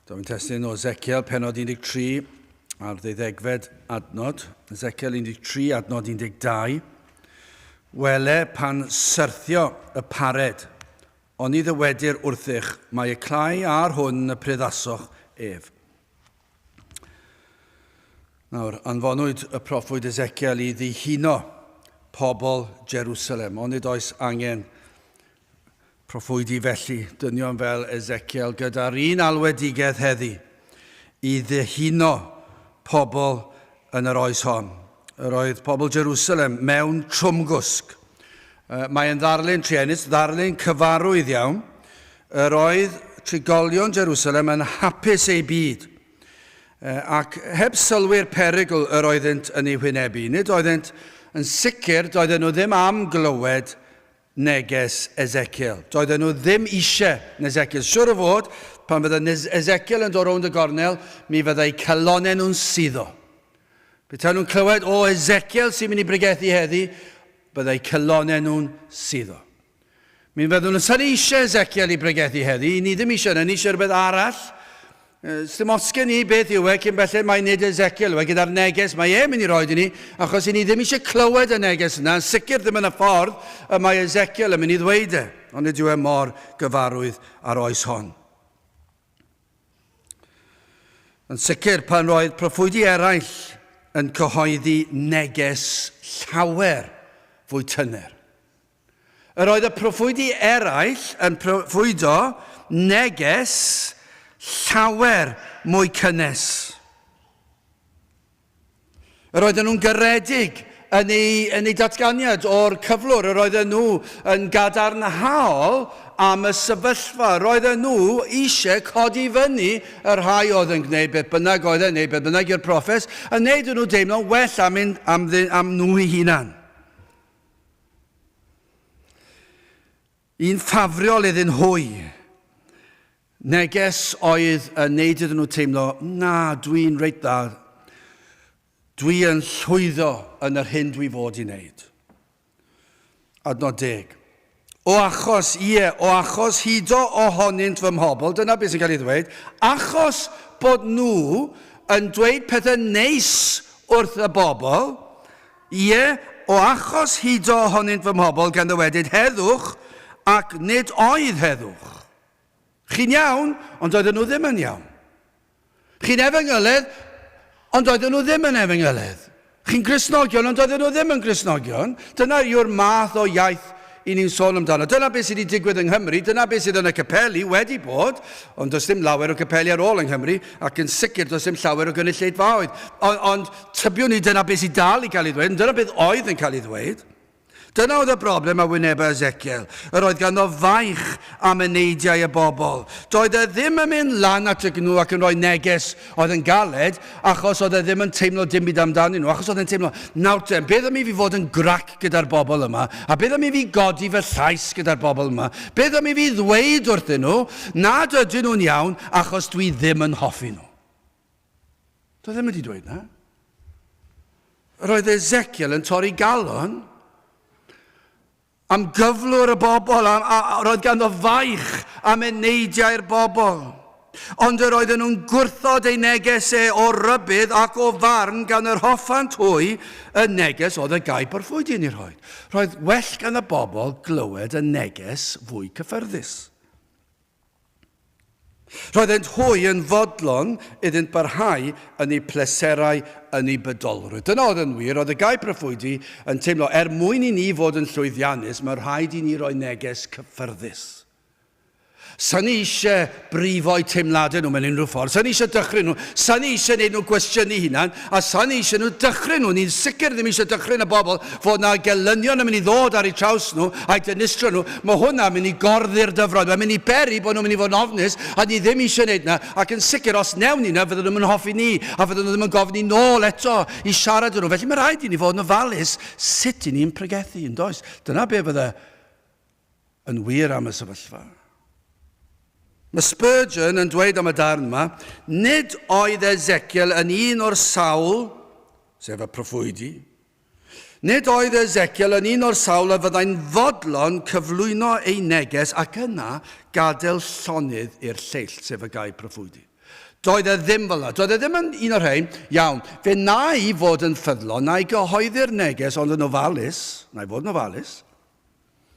Dyma yn testyn o Ezekiel, penod 13, ar ddeuddegfed adnod. Ezekiel 13, adnod 12. Wele pan syrthio y pared, ond i ddywedir wrthych, mae y clai ar hwn y priddasoch ef. Nawr, anfonwyd y proffwyd Ezekiel i ddihuno pobl Jerusalem, ond nid oes angen Proffwydi felly, dynion fel Ezekiel gyda'r un alwedigaeth heddi, i ddihuno pobl yn yr oes hon. Yr oedd pobl Jerusalem mewn trwmgwsg. Mae yn ddarlun truenus, ddarlun cyfarwydd iawn. Yr oedd trigolion Jerusalem yn hapus eu byd, ac heb sylwi'r perygl yr oeddynt yn ei hwynebu. Nid oeddynt yn sicr, doedden nhw ddim am glywed neges Ezekiel. Doedden nhw ddim eisiau Nesekiel. Siwr o fod, pan fydda Nes- Ezekiel yn dod rownd y gornel, mi fyddai calonau nhw'n suddo. Petai nhw'n clywed, o, Ezekiel sy'n mynd i bregethu heddi, byddai calonau nhw'n suddo. Mi fyddwn nhw'n sa'n eisiau Ezekiel i bregethu heddi, ni ddim eisiau yna, ni eisiau rhywbeth arall. Sdim ots gen i beth yw e cyn belled mae nid Ezekiel yw e gyda'r neges mae e'n mynd i roed i ni, achos i ni ddim eisiau clywed y neges yna, yn sicr ddim yn y ffordd y mae Ezekiel yn mynd i ddweud e, ond nid yw e mor gyfarwydd â'r oes hon. Yn sicr, pan roedd proffwydi eraill yn cyhoeddi neges llawer fwy tyner. Yr oedd y proffwydi eraill yn proffwydo neges llawer mwy cynnes. Yr oedden nhw'n garedig yn eu, yn eu datganiad o'r cyflwr. Yr oedden nhw yn gadarnhaol am y sefyllfa. Yr oedden nhw eisiau codi fyny y rhai oedd yn gwneud beth bynnag oedd e'n gwneud beth bynnag i'r proffes, yn wneud nhw deimlo'n well am, un, am, am nhw i hunan. Yn ffafriol iddyn hwy. Neges oedd yn neud iddyn nhw teimlo, na, dwi'n reit dda. Dwi yn llwyddo yn yr hyn dwi fod i wneud. Adnod deg. O achos, ie, o achos hudo ohonynt fy mhobl, dyna beth sy'n cael ei ddweud, achos bod nhw yn dweud pethau neis wrth y bobl, ie, o achos hudo ohonynt fy mhobl, gan ddywedyd, Heddwch, ac nid oedd heddwch. Chi'n iawn, ond doedden nhw ddim yn iawn. Chi'n Efengyledd, ond doedden nhw ddim yn Efengyledd. Chi'n Gristnogion, ond doedden nhw ddim yn Gristnogion. Dyna yw'r math o iaith i ni'n sôn amdano. Dyna beth sydd wedi digwydd yng Nghymru, dyna beth sydd yn y capeli, wedi bod, ond does dim lawer o capeli ar ôl yng Nghymru, ac yn sicr does dim llawer o gynulleidfaoedd. Ond, ond tybiwn i dyna beth sydd dal i cael ei ddweud, dyna beth oedd yn cael ei ddweud. Dyna oedd y broblem a wyneba Ezekiel, yr oedd ganddo faich am y neidiau y bobl. Doedd e ddim yn mynd lan at y gnu ac yn rhoi neges oedd yn galed, achos oedd e ddim yn teimlo dim byd amdanyn nhw, achos oedd e'n teimlo, nawr te, beth am i fi fod yn grac gyda'r bobl yma, a beth am i fi godi fy llais gyda'r bobl yma, beth am i fi ddweud wrthyn nhw nad ydyn nhw'n iawn achos dwi ddim yn hoffi nhw. Doedd e ddim wedi dweud na. Roedd Ezekiel yn torri galon am gyflwr y bobl, a, a, a roedd ganddo faich am eneidiau'r bobl. Ond yr oedden nhw'n gwrthod ei neges e o rybydd ac o farn gan yr hoffant hwy y neges oedd y gaib o'r ffwyd i'n ei rhoi. Roedd well gan y bobl glywed y neges fwy cyffyrddus. Roeddent hwy yn fodlon iddynt barhau yn eu pleserau yn eu bydolrwydd. Dyna oedd yn wir, oedd y Guy Proffwydi yn teimlo, er mwyn i ni fod yn llwyddiannus, mae rhaid i ni roi neges cyffyrddus. Sa'n ni eisiau brifo'u teimladau nhw mewn unrhyw ffordd, sa'n ni eisiau dychryn nhw, sa'n ni eisiau gwneud nhw gwestiynu hunan, A sa ni eisiau nhw dychryn nhw, ni'n sicr ddim eisiau dychryn y bobl fod yna gelynion yn mynd i ddod ar eu traws nhw a'u dinistrio nhw. Mae hwnna'n mynd i gorthu'r dyfroedd, mae'n mynd i beri bod nhw'n mynd i fod yn ofnus a ni ddim eisiau gwneud yna, ac yn sicr os wnewn ni yna fydden nhw'm yn hoffi ni a fydden nhw ddim yn gofyn ni nôl eto i siarad â nhw. Felly mae rhaid i ni fod yn ofalus sut i ni'n pregethu, yn does? Dyna be fydde yn wir am y sefyllfa. Mae Spurgeon yn dweud am y darn yma, nid oedd Ezekiel yn un o'r sawl, sef y proffwydi, nid oedd Ezekiel yn un o'r sawl a fyddai'n fodlon cyflwyno ei neges ac yna gadael llonydd i'r lleill, sef y gaib proffwydi. Doedd e ddim fel yna. Doedd e ddim yn un o'r rhain. Iawn, fe na i fod yn ffyddlon, na i gyhoeddi'r neges ond yn ofalus, na i fod yn ofalus,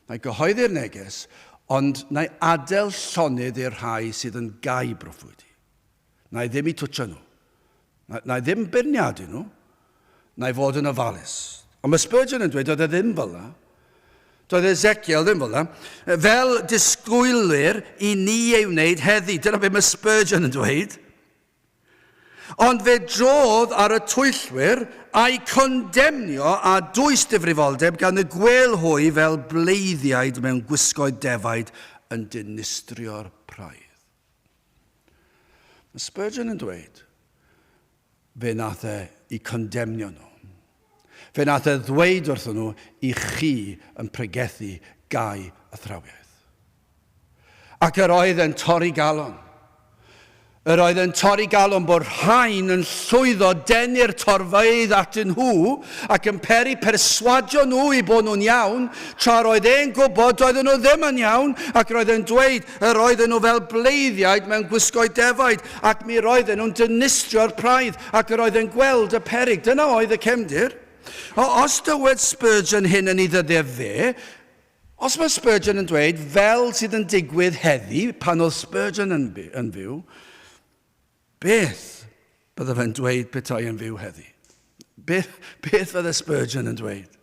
Mae gyhoeddi'r neges, ond na'i adael llonydd i'r rhai sydd yn gau broffwydi. Na'i ddim i twtio nhw. Na, na'i ddim beirniadu nhw. Na'i fod yn ofalus. Ond mae Spurgeon yn dweud doedd e ddim fel yna. Doedd Ezekiel ddim fel yna. Fel disgwylir i ni ei wneud heddi. Dyna beth mae Spurgeon yn dweud. Ond fe drodd ar y twyllwyr a'u condemnio a dwys difrifoldeb gan y gwêl hwy fel bleiddiaid mewn gwisgoedd defaid yn dinistrio'r praidd. Mae Spurgeon yn dweud, fe nath e 'u condemnio nhw. Fe nath e ddweud wrthyn nhw i chi yn pregethu gau athrawiaeth. Ac yr oedd e'n torri galon. Yr oedd e'n torri galon bod rhain yn llwyddo denu'r torfeydd atyn nhw ac yn peri perswadio nhw i bod nhw'n iawn, tra roedd e'n gwybod doedden nhw ddim yn iawn, ac roedd e'n dweud yr oedden nhw fel bleiddiaid mewn gwisgoedd defaid, ac mi roedden nhw'n dinistrio'r praidd. Ac yr oedd yn gweld y peryg. Dyna oedd y cefndir. O, os dywed Spurgeon hyn yn ei ddyddef fe, os mae Spurgeon yn dweud fel sydd yn digwydd heddi, pan oedd Spurgeon yn, yn fyw, beth bydde fe'n dweud petai yn fyw heddi? Beth, beth fydde Spurgeon yn dweud?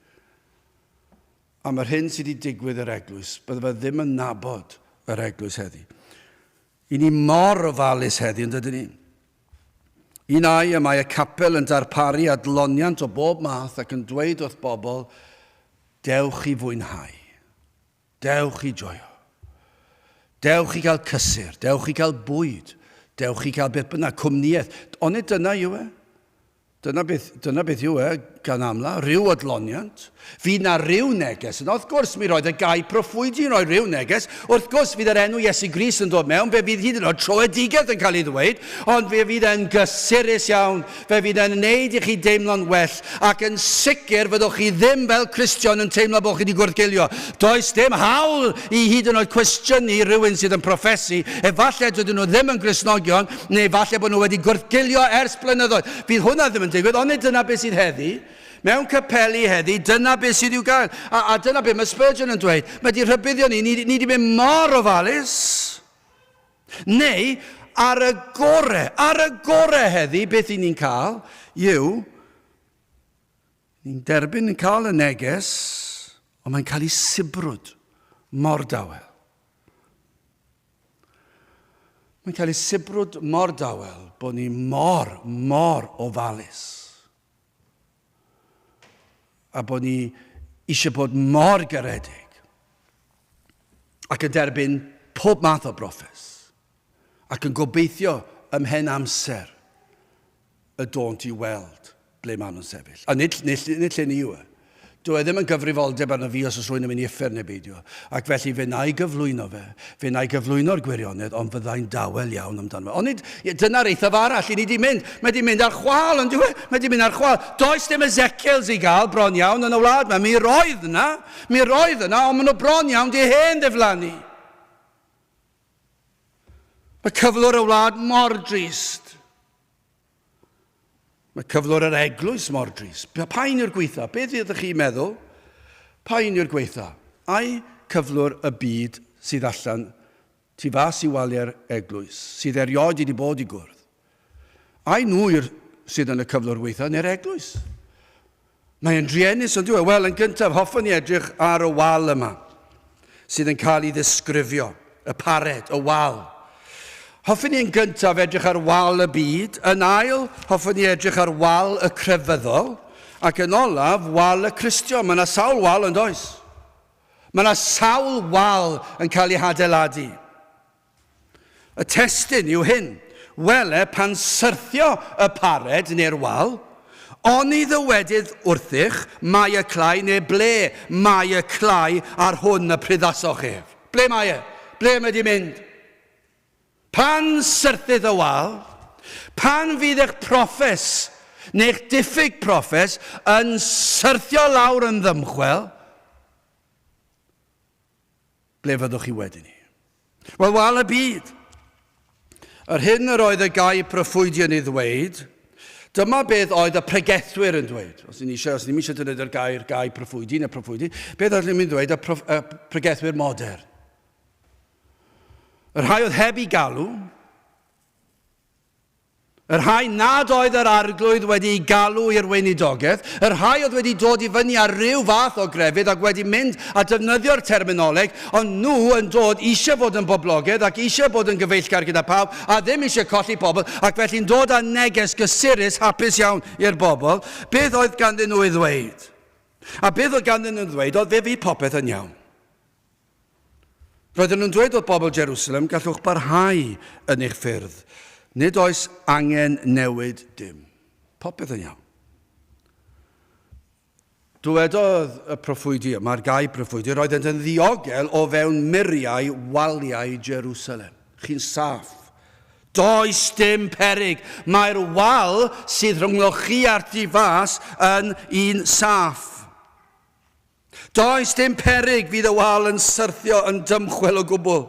Am yr hyn sydd wedi digwydd yr eglwys, bydde fe ddim yn nabod yr eglwys heddi. I ni mor ofalus heddi, yn dydyn ni? Yn ai y mae y capel yn darparu adloniant o bob math ac yn dweud wrth bobl, Dewch i fwynhau. Dewch i joio. Dewch i gael cysur. Dewch i gael bwyd. Dewch i gael beth bynnag, cwmnïaeth. Onid dyna yw e? Dyna beth, dyna beth yw e, gan amla, rhyw adloniant. Fydd na ryw neges yna? Wrth gwrs, mi roedd y gair proffwydi yn rhoi rhyw neges. Wrth gwrs, fydd yr enw Iesu Grist yn dod mewn, fe fydd hyd yn oed troedigedd yn cael ei ddweud, ond fe fydd e'n gysurus iawn, fe fydd e'n wneud i chi deimlo'n well, ac yn sicr fyddwch chi ddim fel Cristion yn teimlo bod chi wedi gwrthgeilio. Does dim hawl i hyd yn oed cwestiynu rhywun sydd yn proffesu, efallai dydyn nhw ddim yn Gristnogion, Neu falle bod nhw wedi gwrthgilio ers blynyddoedd. Fydd hwnna ddim yn digwydd, onid dyna beth sydd heddi? Mewn capeli heddi, dyna beth sydd i'w gael. A, a dyna beth mae Spurgeon yn dweud. Mae wedi rhybuddio ni, ni, ni wedi mynd mor ofalus. Neu, ar y gore, ar y gore heddi, beth i ni'n cael yw, ni'n derbyn yn cael y neges, ond mae'n cael ei sibrwd mor dawel. Mae'n cael ei sibrwd mor dawel bod ni mor, mor ofalus. A bod ni eisiau bod mor garedig ac yn derbyn pob math o brofes ac yn gobeithio ymhen amser y dônt i weld ble maen nhw'n sefyll. A nid, nid, nid lle ni yw e. Dyw e ddim yn gyfrifoldeb arno fi os oes rhywun yn mynd i uffern neu beidio, ac felly fe wna i gyflwyno fe, fe wna i gyflwyno'r gwirionedd, ond fydda i'n dawel iawn amdano fe. Ond nid, ie, dyna'r eithaf arall i ni 'di mynd. Mae 'di mynd ar chwâl, yn dyw e? Mae 'di mynd ar chwâl. Does dim Ezekiels i gael, bron iawn, yn y wlad 'ma. Mi roedd yna, mi roedd yna, ond maen nhw bron iawn 'di hen ddiflannu. Mae cyflwr y wlad mor drist. Mae cyflwr yr eglwys mor drist. Pa un yw'r gweitha? Beth ydych chi'n meddwl? Pa un yw'r gweitha? Ai cyflwr y byd sydd allan tu fas i waliau'r eglwys, sydd erioed wedi bod i gwrdd? Ai nhw yw'r sydd yn y cyflwr weithiau neu'r eglwys? Mae e'n druenus ond yw e? Wel, yn gyntaf, hoffwn ni edrych ar y wal yma sydd yn cael ei ddisgrifio, y pared, y wal. Hoffwn ni yn gyntaf edrych ar wal y byd, yn ail, hoffwn ni edrych ar wal y crefyddol, ac yn olaf, wal y Cristio. Mae yna sawl wal yn does? Mae yna sawl wal yn cael ei hadeiladu. Y testun yw hyn, Wele pan syrthio y pared neu'r wal, oni ddywedydd wrthych, mae y clai, neu ble mae y clai ar hwn y pryddasoch ef? Ble mae e? Ble mae di mynd? Pan syrthydd y wal, pan fydd eich proffes neu'ch diffyg proffes yn syrthio lawr yn ddymchwel, Ble fyddwch chi wedyn 'ny? Wel, wal y byd! Yr hyn yr oedd y gai proffwydi yn ei ddweud, dyma beth oedd y pregethwyr yn dweud. Os ni'n eisiau, os ni'n eisiau defnyddio'r gair gai proffwydi neu proffwydi, beth oedd ni'n dweud y, prof, y pregethwyr modern? Yr rhai oedd heb ei galw, y rhai nad oedd yr Arglwydd wedi'u galw i'r weinidogaeth, y rhai oedd wedi dod i fyny ar ryw fath o grefydd ac wedi mynd a defnyddio'r terminoleg, ond nhw yn dod eisiau bod yn boblogaidd ac eisiau bod yn gyfeillgar gyda phawb a ddim eisiau colli pobl ac felly'n dod â neges gysurus hapus iawn i'r bobl, beth oedd ganddyn nhw ei ddweud? A beth oedd ganddyn nhw ei ddweud oedd fe fydd popeth yn iawn. Roedden nhw'n dweud wrth bobl Jerusalem, Gallwch barhau yn eich ffyrdd. Nid oes angen newid dim. Popeth yn iawn. Dwedodd y proffwydi, y margau proffwydi, roeddent yn ddiogel o fewn muriau waliau Jerusalem. Chi'n saff. Does dim peryg. Mae'r wal sydd rhyngddoch chi a'r tu fas yn un saff. Does dim peryg fydd y wal yn syrthio yn dymchwel o gwbl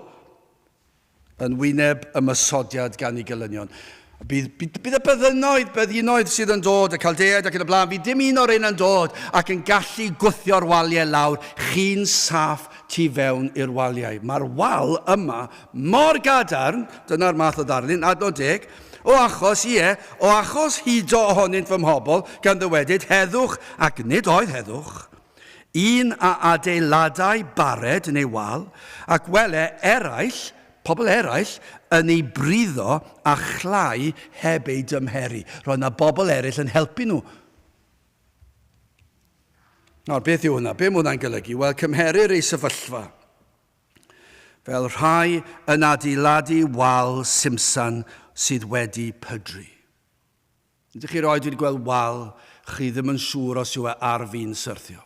yn wyneb ymosodiad gan ei gelynion. Bydd, bydd, bydd y byddinoedd, byddinoedd sydd yn dod, y caldeaid ac yn y blaen, bydd dim un o'r un yn dod ac yn gallu gwthio'r waliau lawr, chi'n saff tu fewn i'r waliau. Mae'r wal yma mor gadarn, dyna'r math o ddarlun, adnod deg, O achos, ie, o achos hudo ohonynt fy mhobl, gan ddywedyd, Heddwch, ac nid oedd heddwch, un a adeiladai bared yn ei wal, ac wele eraill, pobl eraill, yn ei briddo a chlai heb ei dymheru. Roedd yna bobl eraill yn helpu nhw. Nawr, beth yw hwnna? Be mae hwnna'n golygu? Wel, cymherir ei sefyllfa. fel rhai yn adeiladu wal simsan sydd wedi pydru. Ydych chi erioed wedi gweld wal chi ddim yn siŵr os yw e ar fin syrthio?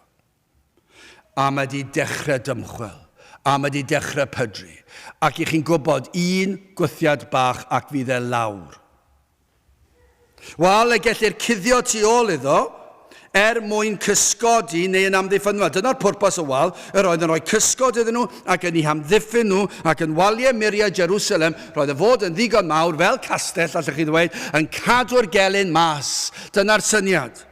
A mae wedi dechrau dymchwel, a mae wedi dechrau pydru, ac i chi'n gwybod, un gwthiad bach ac fydd e lawr. Wel, y gellir cuddio tu ôl iddo, er mwyn cysgodi neu yn amddiffyn nhw, a dyna'r pwrpas o wal, yr oedd yn rhoi cysgod iddyn nhw, ac yn eu hamddiffyn nhw, ac yn waliau muriau Jerusalem, roedd y fod yn ddigon mawr, fel castell, allwch chi ddweud, yn cadw'r gelyn mas. Dyna'r syniad.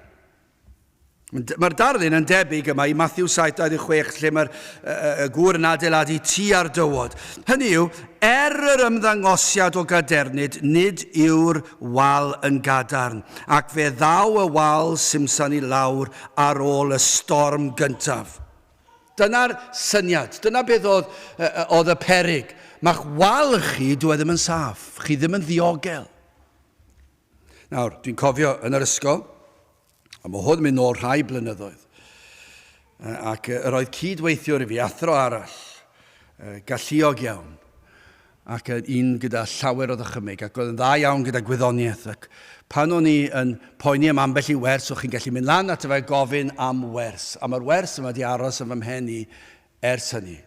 Mae'r darlun yn debyg yma i Matthew 7:26 lle mae'r uh, gŵr yn adeiladu tu ar dywod. Hynny yw, er yr ymddangosiad o gadernid, nid yw'r wal yn gadarn, ac fe ddaw y wal simsan i lawr ar ôl y storm gyntaf. Dyna'r syniad, dyna beth oedd, uh, oedd y perig. Mae'ch wal chi, dwi e ddim yn saff, chi ddim yn ddiogel. Nawr, dwi'n cofio yn yr ysgol, a mae hwn yn mynd nôl rhai blynyddoedd, ac yr oedd cyd-weithiwr i fi, athro arall, galluog iawn, ac yn un gyda llawer o ddychymyg, ac oedd yn dda iawn gyda gwyddoniaeth, ac pan o'n i yn poeni am ambell i wers, o'ch chi'n gallu mynd lan at fe gofyn am wers, a mae'r wers yma wedi aros yn fy mhen i ers hynny.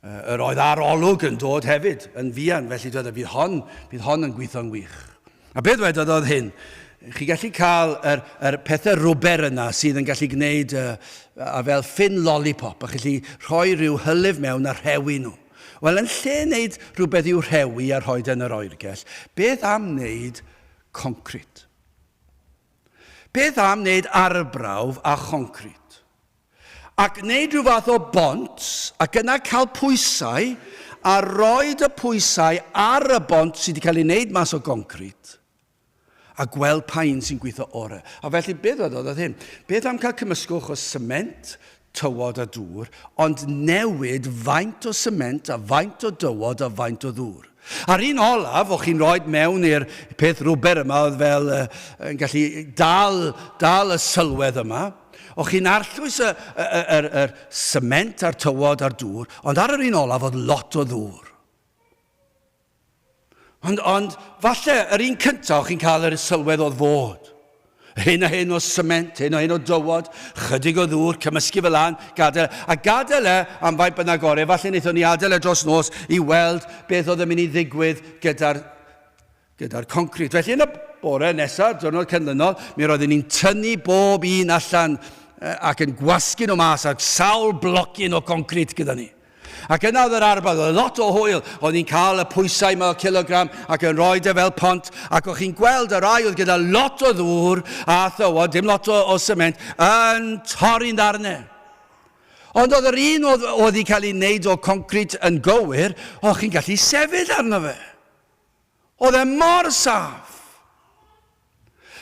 Yr oedd ar olwg yn dod hefyd, yn fuan, felly doedd e, bydd hon, bydd hon yn gweithio'n wych. A beth wedodd oedd hyn, chi gallu cael yr, yr pethau rwber yna sydd yn gallu gwneud uh, a fel ffin lollipop, a gallu rhoi rhyw hylif mewn a rhewi nhw. Wel, yn lle wneud rhywbeth i'w rhewi a rhoi yn yr oergell, beth am wneud concrit? Beth am wneud arbrawf a choncrit? a gwneud rhyw fath o bont ac yna cael pwysau a roed y pwysau ar y bont sydd wedi cael ei wneud mas o goncrit a gweld pa un sy'n gweithio orau. A felly beth oedd oedd hyn? Beth am cael cymysgwch o sement, tywod a dŵr, ond newid faint o sement a faint o dywod a faint o ddŵr? A'r un olaf o chi'n rhoid mewn i'r peth rwber yma oedd fel yy yn gallu dal dal y sylwedd yma. O chi'n arllwys y y y yr yr sement a'r tywod a'r dŵr, ond ar yr un olaf oedd lot o ddŵr. Ond ond falle yr un cynta o chi'n cael yr sylwedd oedd fod. Hyn a hyn o sement, hyn a hyn o dywod, chydig o ddŵr, cymysgu fe lan, gadael e, a gadael e am faint bynnag orau. Efallai wnaethon ni adael e dros nos i weld beth oedd yn mynd i ddigwydd gyda'r gyda'r concrit. Felly yn y bore nesaf, diwrnod canlynol, mi roeddwn ni'n tynnu bob un allan ac yn gwasgu nhw mas a sawl blocyn o concrit gyda ni. Ac yna oedd yr arbad, oedd lot o hwyl, o'n i'n cael y pwysau ma o cilogram ac yn rhoi dy e fel pont, ac o'ch chi'n gweld y rai oedd gyda lot o ddŵr a thywod, dim lot o, o sement, yn torri'n ddarnau. Ond oedd yr un oedd, oedd wedi cael ei wneud o concrit yn gywir, o'ch chi'n gallu sefyll arno fe. Oedd e mor saff!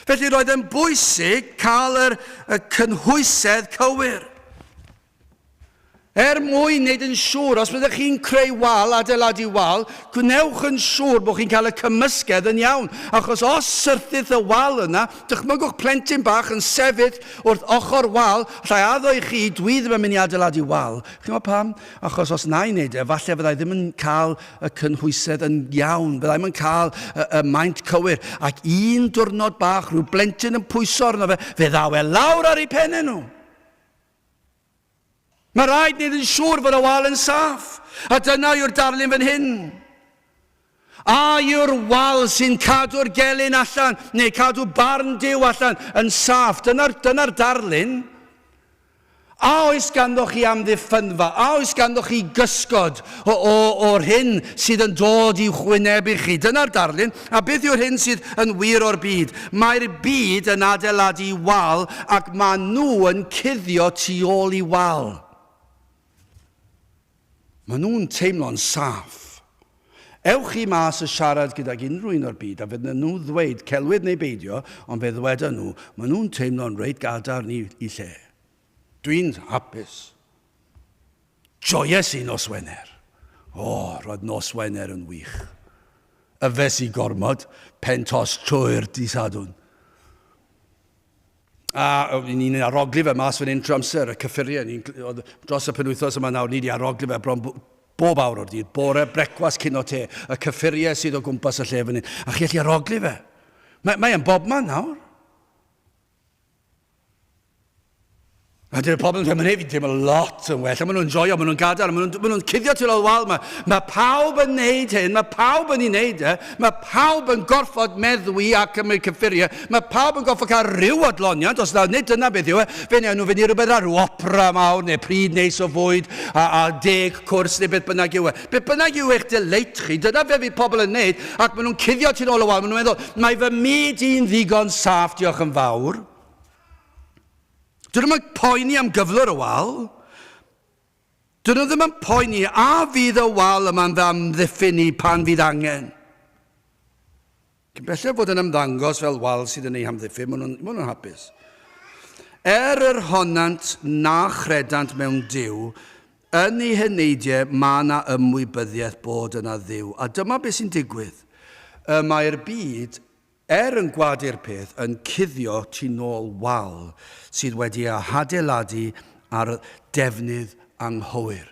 Felly roedd e'n bwysig cael yr, y cynhwysedd cywir. Er mwyn wneud yn siŵr, os byddwch chi'n creu wal, adeiladu wal, gwnewch yn siŵr bod chi'n cael y cymysgedd yn iawn, achos os syrthith y wal yna, dychmygwch plentyn bach yn sefyll wrth ochr wal, allai addo i chi, dwi ddim yn mynd i adeiladu wal. Chi'n gwybod pam? Achos os na i wneud e, falle fyddai ddim yn cael y cynhwysedd yn iawn, fyddai ddim yn cael y, y maint cywir, ac un diwrnod bach, rhyw blentyn yn pwyso arno fe, fe ddaw e lawr ar ei pennau nhw. Mae rhaid wneud yn siŵr fod y wal yn saff, a dyna yw'r darlun fan hyn. A yw'r wal sy'n cadw'r gelyn allan, neu cadw barn Duw allan, yn saff? Dyna'r, dyna'r darlun. A oes ganddoch chi amddiffynfa? A oes ganddoch chi gysgod o, o, o'r hyn sydd yn dod i'w chwynebu chi? Dyna'r darlun. A beth yw'r hyn sydd yn wir o'r byd? Mae'r byd yn adeiladu wal ac maen nhw yn cuddio tu ôl i wal. Maen nhw'n teimlo'n saff. Ewch chi mas a siarad gydag unrhyw un o'r byd a fydd na nhw ddweud celwydd neu beidio ond fe ddweda nhw maen nhw'n teimlo'n reit gadarn i i lle. Dwi'n hapus. Joies i nos Wener. O, roedd nos Wener yn wych. Yfes i gormod, pen tost trwy'r dydd Sadwrn. A ni'n arogli fe mas fan hyn trwy amser, y cyffuriau. Ni'n, dros y penwythos yma nawr, ni wedi arogli fe bron bob awr o'r dydd. Bore, brecwast, cyn o te. Y cyffuriau sydd o gwmpas y lle fan hyn. A chi allu arogli fe. Mae, mae yn bobman nawr. A dyna pobl yn teimlo, mae fi'n teimlo lot yn well, a maen nhw'n joio, maen nhw'n gadael, maen nhw'n nhw cuddio tu ôl wal yma. Mae pawb yn neud hyn, mae pawb yn ei wneud e, mae pawb yn gorfod meddwi a cymryd cyffuriau, mae pawb yn gorfod cael rhyw adloniant, os na, nid dyna beth yw e, fe wnawn nhw fynd i rhywbeth ar rhyw opera mawr neu pryd neis o fwyd a, a deg cwrs neu beth bynnag yw e. Beth bynnag yw eich dyleit chi, dyna fe fydd pobl yn neud, ac maen nhw'n cuddio tu ôl y wal, maen nhw'n meddwl, mae fy myd i'n ddigon saff, diolch yn fawr. Dyn nhw'm yn poeni am gyflwr y wal. Dyn nhw ddim yn poeni a fydd y wal yma'n fy amddiffyn ni pan fydd angen. Cyn belled fod yn ymddangos fel wal sydd yn eu hamddiffyn, maen nhw'n nhw hapus. Er yr honnant na chredant mewn Duw, yn eu heneidiau mae yna ymwybyddiaeth bod yna Dduw, a dyma beth sy'n digwydd. Y mae'r byd Er yn gwadu'r peth yn cuddio tu nôl wal sydd wedi ei hadeiladu ar ddefnydd anghywir,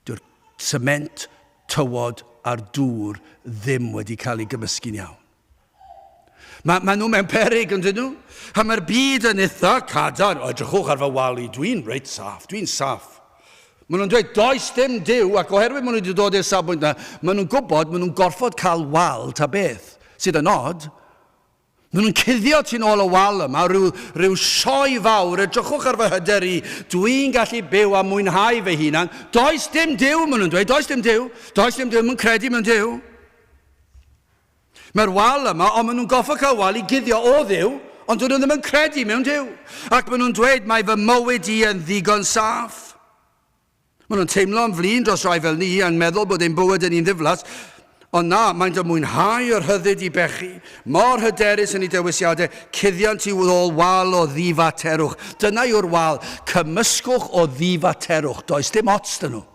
dyw'r sement, tywod a'r dŵr ddim wedi cael eu gymysgu'n iawn. Mae, maen nhw mewn peryg, yndyn nhw? A mae'r byd yn eitha cadarn. O, edrychwch ar fy wal i, dwi'n reit saff, dwi'n saff. Maen nhw'n dweud, does dim Duw, ac oherwydd maen nhw wedi dod i'r safbwynt yna, maen nhw'n gwybod maen nhw'n gorfod cael wal ta beth, sydd yn od. Maen nhw'n cuddio tu'n ôl y wal yma, rhyw, rhyw sioe fawr, edrychwch ar fy hyder i, dwi'n gallu byw a mwynhau fy hunan. Does dim Duw, maen nhw'n dweud, does dim Duw, does dim Duw, maen nhw'n credu mewn Duw. Mae'r wal yma, ond maen nhw'n gorfod cael wal i guddio o Dduw, ond dydyn nhw ddim yn credu mewn Duw. Ac maen nhw'n dweud, mae fy mywyd i yn ddigon saff. Maen nhw'n teimlo'n flin dros rai fel ni, yn meddwl bod ein bywyd yn un ddiflas, ond na, maent yn mwynhau y rhyddid i bechu, mor hyderus yn eu dewisiadau, cuddiant i'w ôl wal o ddifaterwch. Dyna yw'r wal, cymysgwch o ddifaterwch, does dim ots dyn nhw.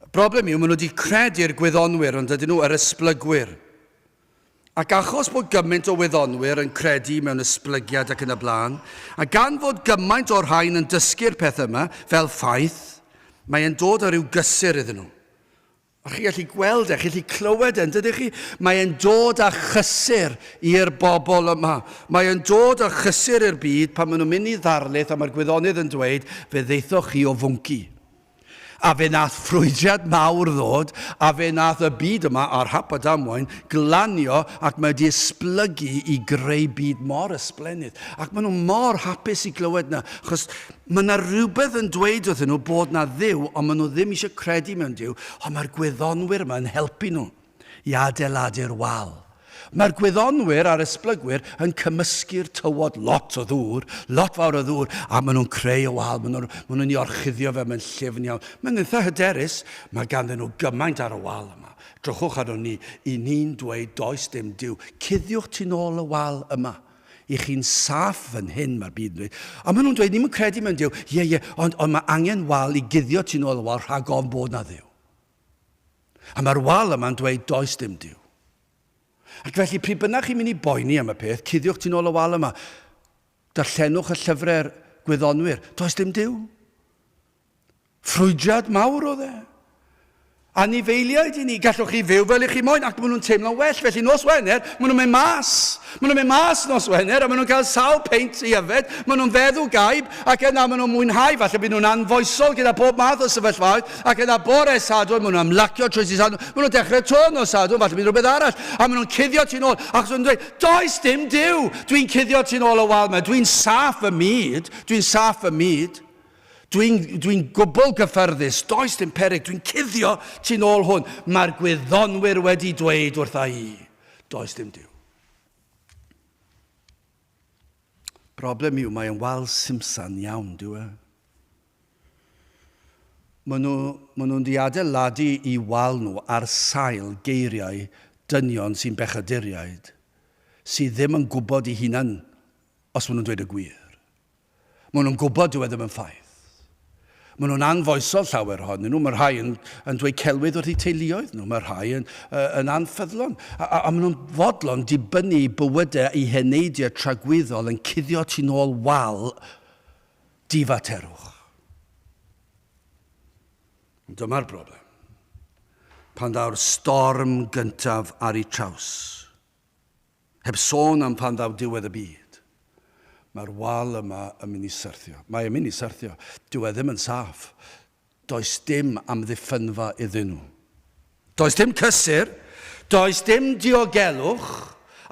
Y broblem yw, maen nhw 'di credu'r gwyddonwyr, yn dydyn nhw, yr esblygwyr. Ac achos bod gymaint o wyddonwyr yn credu mewn esblygiad ac yn y blaen, a gan fod gymaint o'r rhain yn dysgu'r peth yma fel ffaith, mae e'n dod â rhyw gysur iddyn nhw. A chi gallu gweld e, chi gallu clywed e, yn dydych chi? Mae e'n dod â chysur i'r bobl yma. Mae e'n dod â chysur i'r byd pan maen nhw'n mynd i ddarlith a mae'r gwyddonydd yn dweud, fe ddeithoch chi o fwnci. A fe nath ffrwydriad mawr ddod, a fe nath y byd yma a'r hap a damwain glanio ac mae 'di esblygu i greu byd mor ysblennydd. Ac maen nhw mor hapus i glywed 'na, achos mae 'na rywbeth yn dweud wrthyn nhw bod 'na Dduw, ond maen nhw ddim eisiau credu mewn Duw, ond mae'r gwyddonwyr yma yn helpu nhw. i adeiladu'r wal. Mae'r gwyddonwyr a'r esblygwyr yn cymysgu'r tywod, lot o ddŵr, lot fawr o ddŵr, a maen nhw'n creu y wal, maen nhw'n nhw nhw orchuddio fe, mae'n llyfn iawn. Mae'n eitha hyderus, mae ganddyn nhw gymaint ar y wal yma. Drychwch arno ni, i ni'n dweud does dim Duw. Cuddiwch tu nôl y wal yma. I chi'n saff fan hyn, mae'r byd yn dweud. A maen nhw'n dweud, ni'n credu mewn Duw, ie, ie, ond, ond mae angen wal i guddio tu nôl y wal rhag ofn bod na Dduw. A mae'r wal yma'n dweud does dim Duw. Ac felly, pryd bynnag chi'n mynd i boeni am y peth, cuddiwch tu'n ôl y wal yma. Darllenwch y llyfrau'r gwyddonwyr. Does dim Duw. Ffrwydiad mawr oedd e. Anifeiliaid i ni, gallwch chi fyw fel i chi moyn, ac maen nhw'n teimlo'n well, felly nos Wener, maen nhw'n mynd mas. Maen nhw'n mynd mas nos Wener a maen nhw'n cael sawl peint i yfed, maen nhw'n feddw gaib ac yna maen nhw'n mwynhau, falle bydd nhw'n anfoesol gyda pob math o sefyllfaoedd ac yna bore Sadwrn maen nhw'n ymlacio trwy Dydd Sadwrn, maen nhw'n dechrau 'to nos Sadwrn, falle bydd rhywbeth arall a maen nhw'n cuddio ti'n ôl achos maen nhw'n dweud 'does dim Duw, dwi'n cuddio ti'n ôl o wal mewn, dwi'n saff fy myd, dwi'n saff fy myd, dwi'n dwi gwbl gyffyrddus, does dim peryg, dwi'n cuddio ti'n ôl hwn, mae'r gwyddonwyr wedi dweud wrtha i. Does dim Duw. Problem yw, mae e'n wal simsan iawn, dyw e. Maen nhw, maen nhw'n diadeiladu i wal nhw ar sail geiriau dynion sy'n bechaduriaid, sydd ddim yn gwybod i hunan os maen nhw'n dweud y gwir. Maen nhw'n gwybod dyw e ddim yn ffaith. Maen nhw'n anfoesol llawer ohonyn nhw, mae rhai yn, yn dweud celwydd wrth eu teuluoedd nhw, mae rhai yn, uh, yn anffyddlon, a, a, a maen nhw'n fodlon dibynnu i bywydau i heneidiau tragwyddol yn cuddio tu nôl wal difaterwch. Dyma'r broblem. Pan ddaw'r storm gyntaf ar ei traws, Heb sôn am pan ddaw diwedd y byd. Mae'r wal yma yn mynd i syrthio. Mae e'n mynd i syrthio. Dyw e ddim yn saff. Does dim amddiffynfa iddyn nhw. Does dim cysur, does dim diogelwch,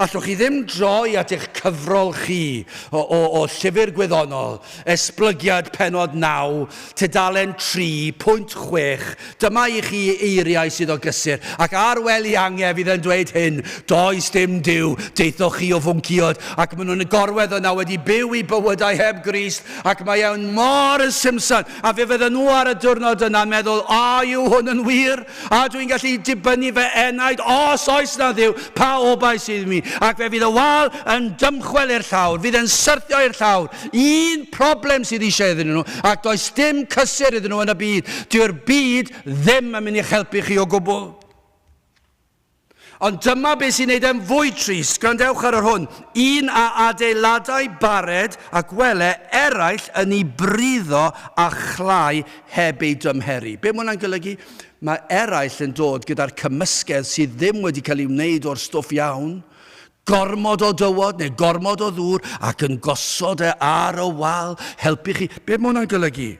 allwch chi ddim droi at eich cyfrol chi o, o, o llyfr gwyddonol Esblygiad Pennod 9, tudalen 3.6 Dyma i chi eiriau sydd o gysur, ac ar wel i angef fydd yn dweud hyn, Does dim Duw, daethoch chi o fwnciod, ac maen nhw'n gorwedd yna wedi byw eu bywydau heb Grist, ac mae e'n mor simson, a fe fydden nhw ar y diwrnod yna'n meddwl, A yw hwn yn wir? A dwi'n gallu dibynnu fy enaid, os oes 'na Dduw, pa obaith sydd i mi? Ac fe fydd y wal yn dymchwel i'r llawr, fydd e'n syrthio i'r llawr. Un problem sydd eisiau iddyn nhw, ac does dim cysur iddyn nhw yn y byd. Dyw'r byd ddim yn mynd i'ch helpu chi o gwbl. Ond dyma beth sy'n neud e'n fwy trist, gwrandewch ar yr hwn, un a adeiladai bared a gwele eraill yn i briddo a chlai heb ei dymheru. Be' ma' hwnna'n golygu? Ma' eraill yn dod gyda'r cymysgedd sydd ddim wedi cael ei wneud o'r stwff iawn, gormod o dywod neu gormod o ddŵr ac yn gosod e ar y wal helpu chi. Be' ma' hwnna'n golygu?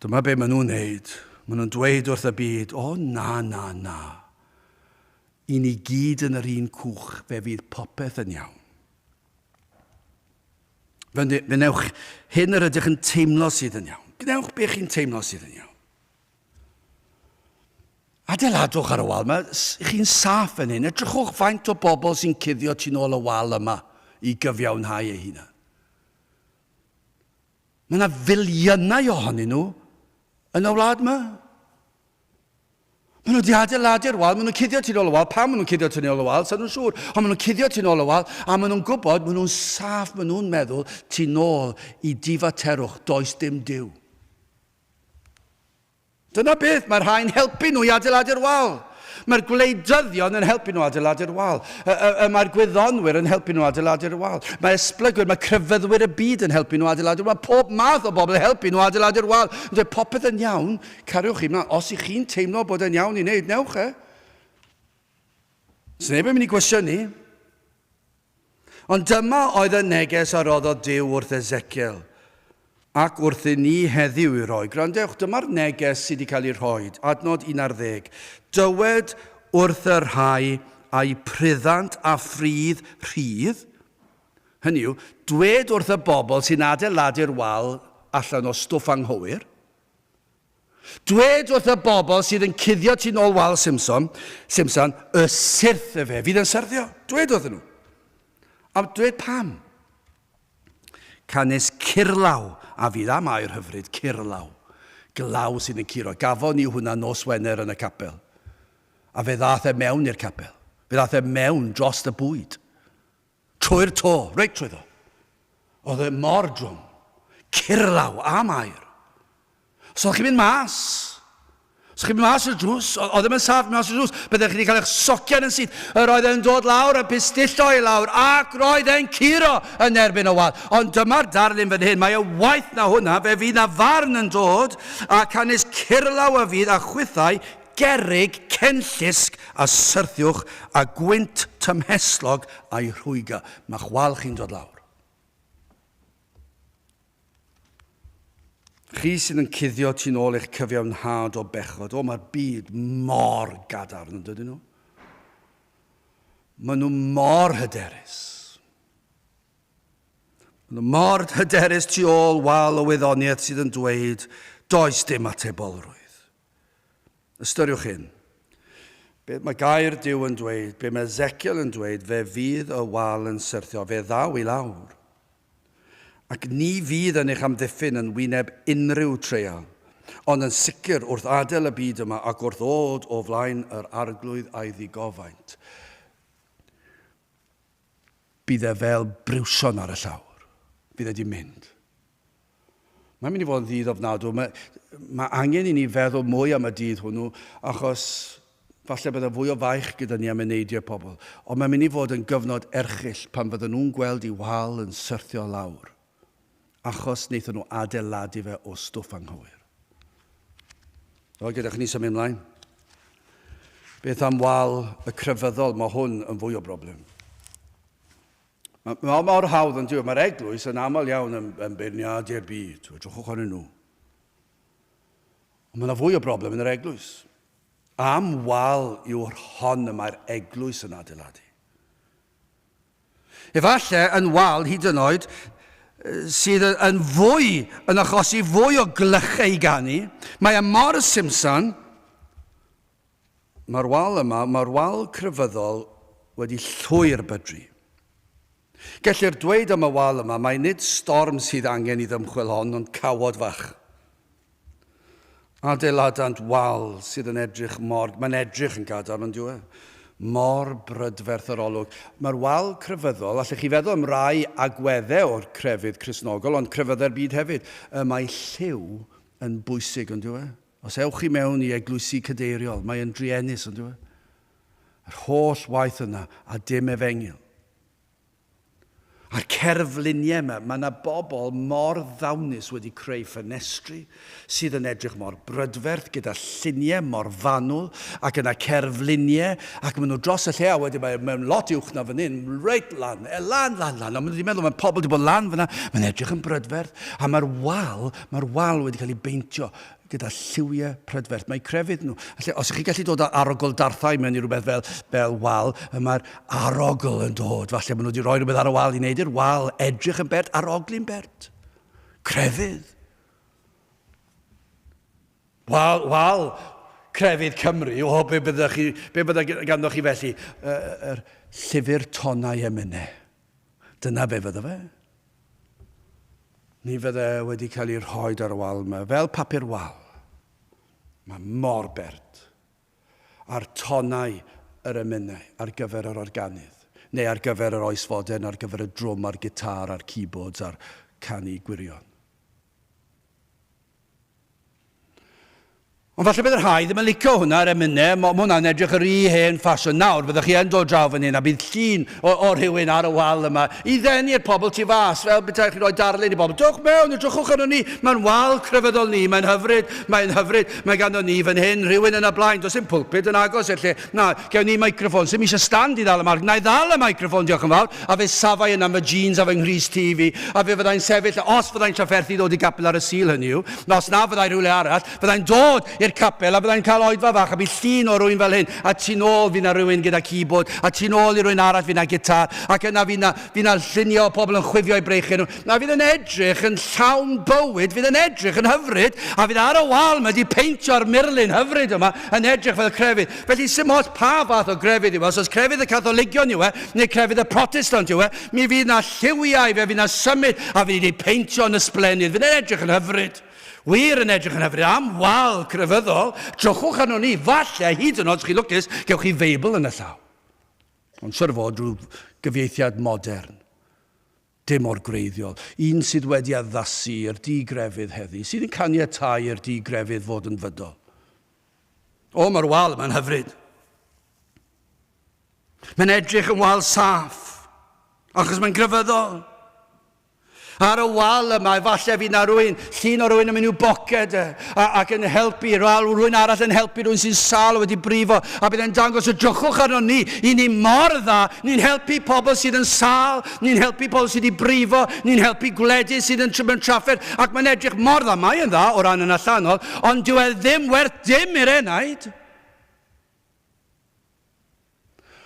Dyma be maen nhw'n wneud. Maen nhw'n dweud wrth y byd, o na, na, na. I ni gyd yn yr un cwch, fe fydd popeth yn iawn. Fe wnewch hyn yr ydych yn teimlo sydd yn iawn. Gwnewch be chi'n teimlo sydd yn iawn. Adeiladwch ar y wal, mae chi'n saff yn hyn. Edrychwch faint o bobl sy'n cuddio tu'n ôl y wal yma i gyfiawnhau ei hunan. Mae yna filiynau ohonyn nhw yn y wlad yma. Maen nhw wedi adeiladu'r wal, maen nhw'n cuddio tu'n ôl y wal, pam maen nhw'n cuddio tu'n ôl y wal, sa'n nhw'n siŵr, ond maen nhw'n cuddio tu'n ôl y wal, a maen nhw'n gwybod, maen nhw'n saff, maen nhw'n meddwl tu'n ôl i difaterwch, does dim diw. Dyna beth, mae'r rhain helpu nhw i adeiladu'r wal. Mae'r gwleidyddion yn helpu nhw adeiladu'r wal. Y, y, y mae'r gwyddonwyr yn helpu nhw adeiladu'r wal. Mae esblygwyr, mae crefyddwyr y byd yn helpu nhw adeiladu'r wal. Pob math o bobl yn helpu nhw adeiladu'r wal. Yn dweud popeth yn iawn, cariwch chi mlaen. Os ych chi'n teimlo bod e'n iawn i wneud, newch e. Os neb yn mynd i gwestiynu, Ond dyma oedd y neges a roddodd Duw wrth Ezekiel, ac wrthyn ni heddiw i roi. Gwrandewch, dyma'r neges sydd wedi cael ei rhoi, adnod un ar ddeg, Dywed wrth y rhai a'u pryddant a phridd rhydd, hynny yw, dwed wrth y bobl sy'n adeiladu'r wal allan o stwff anghywir, Dwed wrth y bobl sydd yn cuddio tu nôl wal Simson, Simson, y syrth y fe fydd yn syrddio. Dwed wrth nhw. A dwed pam. Canys curlaw a fydd am air hyfryd, curlaw. Glaw sydd yn curo. Gafon ni hwnna nos Wener yn y capel. A fe ddath e mewn i'r capel. Fe ddath e mewn dros y bwyd. Trwy'r to, reit trwyddo. Oedd e mor drwm. Curlaw a Mair. Os oeddech chi'n mynd mas, os chi'n mynd mas i'r drws, oedd ddim yn saff mas i'r drws, byddech chi wedi cael eich socian yn syth. Yr oedd e'n dod lawr a pistillo i lawr, ac roedd e'n curo yn erbyn y wal. Ond dyma'r darlun fan hyn, mae e waeth na hwnna, fe fydd na farn yn dod, a canys curlaw a fydd a chwithau Gerrig cenllysg a syrthiwch a gwynt tymhestlog a'i rhwygo. Mae chwal chi'n dod lawr. Chi sydd yn cuddio tu'n ôl eich cyfiawnhad o bechod. O, mae'r byd mor gadarn yn dydyn nhw. Maen nhw mor hyderus. Maen nhw mor hyderus tu ôl wal o wyddoniaeth sydd yn dweud does dim atebolrwydd. Ystyriwch hyn. Beth mae gair Duw yn dweud? Be mae Ezekiel yn dweud? Fe fydd y wal yn syrthio. Fe ddaw i lawr. Ac ni fydd yn eich amddiffyn yn wyneb unrhyw treial. Ond yn sicr, wrth adael y byd yma ac wrth ddod o flaen yr Arglwydd a'i ddigofaint, Bydd e fel briwsion ar y llawr. Bydd e 'di mynd. Mae'n mynd i fod yn ddydd ofnadw. Mae, mae angen i ni feddwl mwy am y dydd hwnnw, achos falle bydd e fwy o faich gyda ni am eneidiau pobl. Ond mae'n mynd i fod yn gyfnod erchyll pan fydden nhw'n gweld i wal yn syrthio lawr. achos wnaethon nhw adeiladu fe o stwff anghywir. Wel, gyda chni symud ymlaen. Beth am wal y crefyddol? Mae hwn yn fwy o broblem. Mae ma mor hawdd yn diwy. Mae'r eglwys yn aml iawn yn, yn beirniadu'r byd. Edrychwch ar nhw. Ond mae yna fwy o broblem yn yr eglwys. Am wal yw'r hon y mae'r eglwys yn adeiladu. efallai yn wal hyd yn oed, sydd yn fwy, yn achosi fwy o glychau i ganu. Mae e mor simsan. Mae'r wal yma, mae'r wal crefyddol wedi llwyr bydru. Gellir dweud am y wal yma mai nid storm sydd angen i ddymchwel hon ond cawod fach. Adeiladant wal sydd yn edrych mor... Mae'n edrych yn gadarn, yn dyw e? Mor brydferth yr olwg. Mae'r wal crefyddol, allech chi feddwl am rai agweddau o'r crefydd Cristnogol, ond crefyddau'r byd hefyd. Y mae lliw yn bwysig, yn dyw e? Os ewch chi mewn i eglwysi cadeiriol, mae yn druenus, yn dyw e? Yr holl waith yna, a dim efengyl. A'r cerflunie yma, mae yna bobl mor ddawnus wedi creu ffenestri sydd yn edrych mor brydferth gyda lluniau mor fanwl ac yna cerflunie ac maen nhw dros y lle a wedyn mae mewn lot uwch na fan hyn, reit lan, e, lan, lan, lan a maen nhw wedi meddwl mae pobl wedi bod lan fanna, mae'n edrych yn brydferth a mae'r wal, mae'r wal wedi cael ei beintio gyda lliwiau prydferth. Mae crefydd nhw, lle, os ych chi'n gallu dod â arogl darthau mewn i rhywbeth fel, fel wal, y mae'r arogl yn dod. Falle maen nhw wedi rhoi rhywbeth ar y wal i wneud i'r wal edrych yn bert, aroglu'n bert. Crefydd. Wal, wal, crefydd Cymru, o, be bydda chi, be bydda ganddo chi felly? Yr er, llyfr tonau emynau. Dyna be fydda fe. Mi fydde wedi cael ei rhoed ar y wal yma, fel papur wal. Mae mor bert. A'r tonau yr emynau ar gyfer yr organydd, neu ar gyfer yr oes fodern ar gyfer y drwm a'r gitar a'r keyboards a'r canu gwirion. Ond falle bydd rhai ddim yn licio hwnna ar emynau, mae hwnna'n edrych yr rhy hen ffasiwn nawr, fyddwch chi yn dod draw fan hyn a bydd llun o, o rhywun ar y wal yma i ddenu'r pobl tu fas, fel betaech chi'n rhoi darlun i bobl, dwch mewn, edrychwch arno ni, mae'n wal crefyddol ni, mae'n hyfryd, mae'n hyfryd, mae ganddo ni fan hyn rhywun yn y blaen, does dim pulpud yn agos i'r lle, Na, gewn ni microffon. Sim eisiau stand i ddal y marc. Na i ddal y microffon, diolch yn fawr. A fe safai yna fy jeans a fy nghrys tu i fi, a fe fyddai'n sefyll, os fyddai'n trafferthu ddod i gapel ar y Sul, hynny yw, os na fyddai rhywle arall, fyddai'n dod i'r capel a fyddai'n cael oedfa fach a bydd llun o rywun fel hyn, a tu nôl fydd na rywun gyda keyboard, a tu nôl i rywun arall fydd na gitar, ac yna fydd na, fydd na lluniau o pobl yn chwifio eu breichiau nhw. na fydd yn edrych yn llawn bywyd, fydd yn edrych yn hyfryd, a fydd ar y wal mae wedi peintio'r murlun hyfryd yma yn edrych fel crefydd. Felly sy'n modd pa fath o grefydd yw e, os oes crefydd y Catholigion yw e, neu crefydd y Protestant yw e, mi fydd na lliwiau fe, fydd na symud, a fydd wedi peintio yn ysblennydd, fydd yn edrych yn hyfryd. Wir yn edrych yn hyfryd am wal crefyddol, trwchwch arno ni, falle hyd yn oed chi lwcus, gewch chi Feibl yn y llaw. Ond siwr fod rhyw gyfieithiad modern. dim mor gwreiddiol, un sydd wedi addasu i'r di-grefydd heddi, sydd yn caniatáu i'r di-grefydd fod yn fydol. O, mae'r wal yma'n hyfryd. Mae'n edrych yn wal saff, achos mae'n grefyddol. Ar y wal yma, efallai fydd na rwy'n Llun o rywun yn mynd i'w boced ac yn helpu, rhywun arall yn helpu rhywun sy'n sal wedi brifo, a bydd e'n dangos y drychwch arno ni, i ni mor dda, ni'n helpu pobl sydd yn sal, ni'n helpu pobl sydd wedi brifo, ni'n helpu gwledydd sydd yn trwm yn trafferth, ac mae'n edrych mor dda, mae e'n dda o ran yn allanol, ond dyw e ddim werth dim i'r enaid.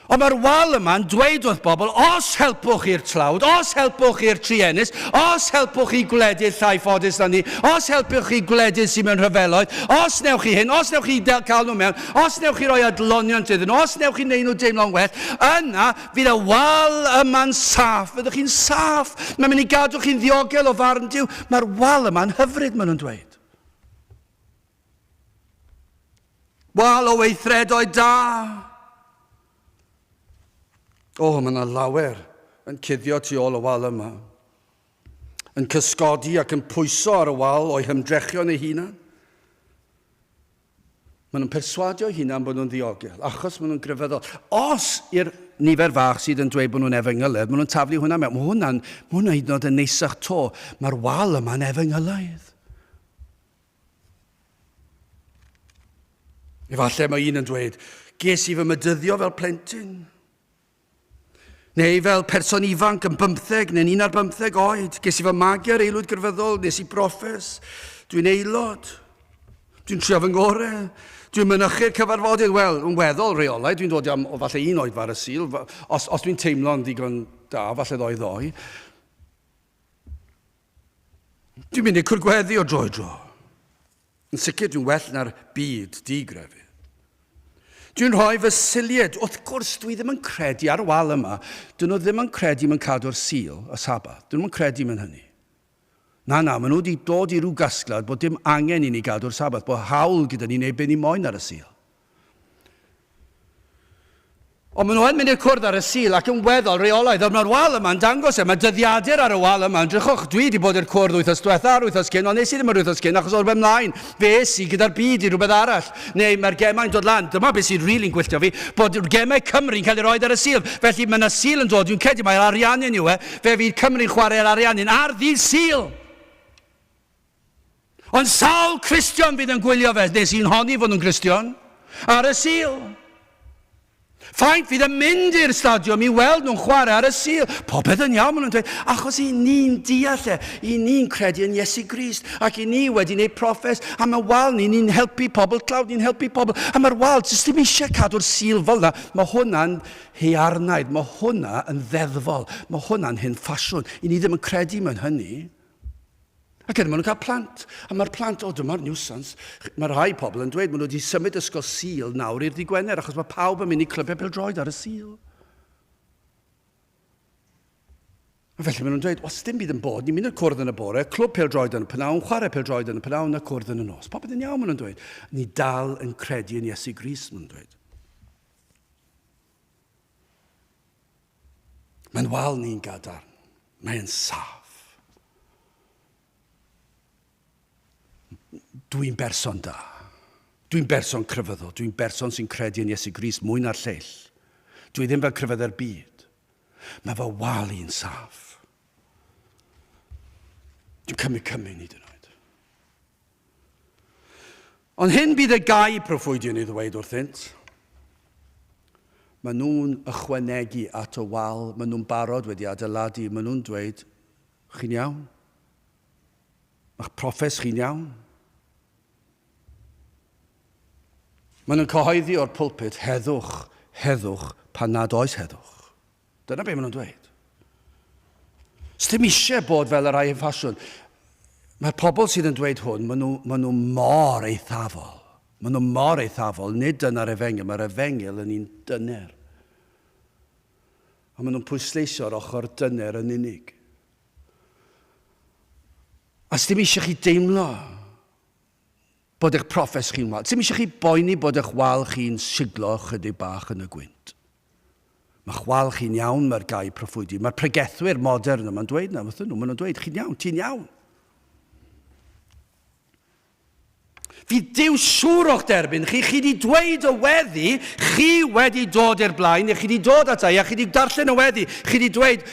Ond mae'r wal yma'n dweud wrth bobl, os helpwch chi'r tlawd, os helpwch chi'r truenus, os helpwch chi gwledydd llai ffodus na ni, os helpwch chi gwledydd sy'n mewn rhyfeloedd, os newch chi hyn, os newch chi cael nhw mewn, os newch chi roi adloniant iddyn nhw, os newch chi wneud nhw deimlo'n well, yna fydd y wal yma'n saff, fyddwch chi'n saff, mae'n mynd i gadw chi'n ddiogel o farn Dyw. Mae'r wal yma'n hyfryd, maen nhw'n dweud. Wal o weithredoedd da! O, mae yna lawer yn cuddio tu ôl y wal yma. Yn cysgodi ac yn pwyso ar y wal o'i hymdrechion ei hunan. Maen nhw'n perswadio hunan bod nhw'n ddiogel, achos maen nhw'n grefyddol. Os i'r nifer fach sydd yn dweud bod nhw'n efengylaidd, maen nhw'n taflu hwnna mewn. Mae hwnna'n hwnna hyd yn oed yn neisach to. Mae'r wal yma'n efengylaidd. Efallai mae un yn dweud, ges i fy mydyddio fel plentyn. Neu fel person ifanc yn bymtheg neu'n un ar bymtheg oed, ges i fy magu ar aelwyd grefyddol, nes i broffes, dwi'n aelod, dwi'n trio fy ngore, dwi'n mynychu'r cyfarfodydd, wel, yn weddol reolau, dwi'n dod am o falle un oed far y sil, os, os dwi'n teimlo'n ddigon da, falle ddoe ddoe. Dwi'n mynd i cwrdd gweddi o dro i dro. Yn sicr dwi'n well na'r byd digrefydd. Dwi'n rhoi fy silied, wrth gwrs, dwi ddim yn credu ar y wal yma. Dyn nhw ddim yn credu mewn cadw'r sil, y sabath. Dyn nhw'n credu mewn hynny. Na, na, maen nhw wedi dod i ryw gasgliad bod dim angen i ni gadw'r sabath, bod hawl gyda ni wneud be ni moyn ar y sil. Ond maen nhw yn mynd i'r cwrdd ar y Sul ac yn weddol reolaidd. Nawr, mae'r wal yma'n dangos e. Mae dyddiadur ar y wal yma. Edrychwch, dwi wedi bod i'r cwrdd wythnos diwetha a'r wythnos cyn, ond nes i ddim yr wythnos cyn achos oedd rhywbeth mlaen. Fe es i gyda'r byd i rhywbeth arall. Neu mae'r gemau'n dod lan. Dyma beth sy'n rili'n gwylltio fi, bod gemau Cymru'n cael eu rhoi ar y Sul. Felly, mae yna Sul yn dod, dwi'n credu mai'r Ariannin yw e. Fe fydd Cymru'n chwarae'r Ariannin ar ddydd Sul! Ond sawl Cristion fydd yn gwylio fe? Nes i'n honni fod nhw'n Gristion ar y Sul. Faint fydd yn mynd i'r stadiwm i weld nhw'n chwarae ar y Sul? Popeth yn iawn, maen nhw'n dweud, achos i ni'n deall e, i ni'n credu yn Iesu Grist, ac i ni wedi gwneud proffes am y wal ni, ni'n helpu pobl tlawd, ni'n helpu pobl am yr wal, jyst ddim eisiau cadw'r Sul fel yna. Mae hwnna'n hearnaid, mae hwnna yn ddeddfol, mae hwnna'n hyn ffasiwn, i ni ddim yn credu mewn hynny. Ac er maen nhw'n cael plant, a mae'r plant, o dyma'r niwsans, mae rhai pobl yn dweud maen nhw wedi symud ysgol Sul nawr i'r digwener achos mae pawb yn mynd i clybiau bildroed ar y Sul. A felly maen nhw'n dweud, os dim byd yn bod, ni'n mynd i'r cwrdd yn y bore, clwb pildroed yn y pnawn, chwarae pildroed yn y pnawn a cwrdd yn y nos. Popeth yn iawn, maen nhw'n dweud. Ni dal yn credu yn Iesu Gris, maen nhw'n dweud. Mae'n wal ni'n gadarn. Mae'n saff. Dwi'n berson da. Dwi'n berson crefyddol. Dwi'n berson sy'n credu yn Iesu Gris mwy na'r lleill. Dwi ddim fel crefyddau'r byd. Mae fy wal i'n saff. Dwi'n cymryd cymryd nid yn oed. Ond hyn bydd y gau proffwydion i ddweud wrthynt. Maen nhw'n ychwanegu at y wal maen nhw'n barod wedi adeiladu. Maen nhw'n dweud, chi'n iawn? Mae'ch proffes chi'n iawn? Maen nhw'n cyhoeddi o'r pulpit, heddwch, heddwch, pan nad oes heddwch. Dyna be maen nhw'n dweud. Os ddim eisiau bod fel y rhai yn ffasiwn, mae'r pobl sydd yn dweud hwn, maen nhw, maen nhw mor eithafol. Maen nhw mor eithafol, nid dyna'r efengyl, mae'r efengyl yn un dyner. A maen nhw'n pwysleisio'r ochr dyner yn unig. A ddim eisiau chi deimlo bod eich profes chi'n wal. Ddim eisiau chi boeni bod eich wal chi'n siglo chydig bach yn y gwynt. Mae chwal chi'n iawn, mae'r gair proffwydi. Mae'r pregethwyr modern yma'n dweud na, wrthyn nhw, maen nhw'n dweud, chi'n iawn, ti'n iawn. Fydd Dyw siŵr o'ch derbyn chi, chi wedi dweud y weddi, chi wedi dod i'r blaen, neu chi wedi dod ata i a chi wedi darllen y weddi, chi wedi dweud,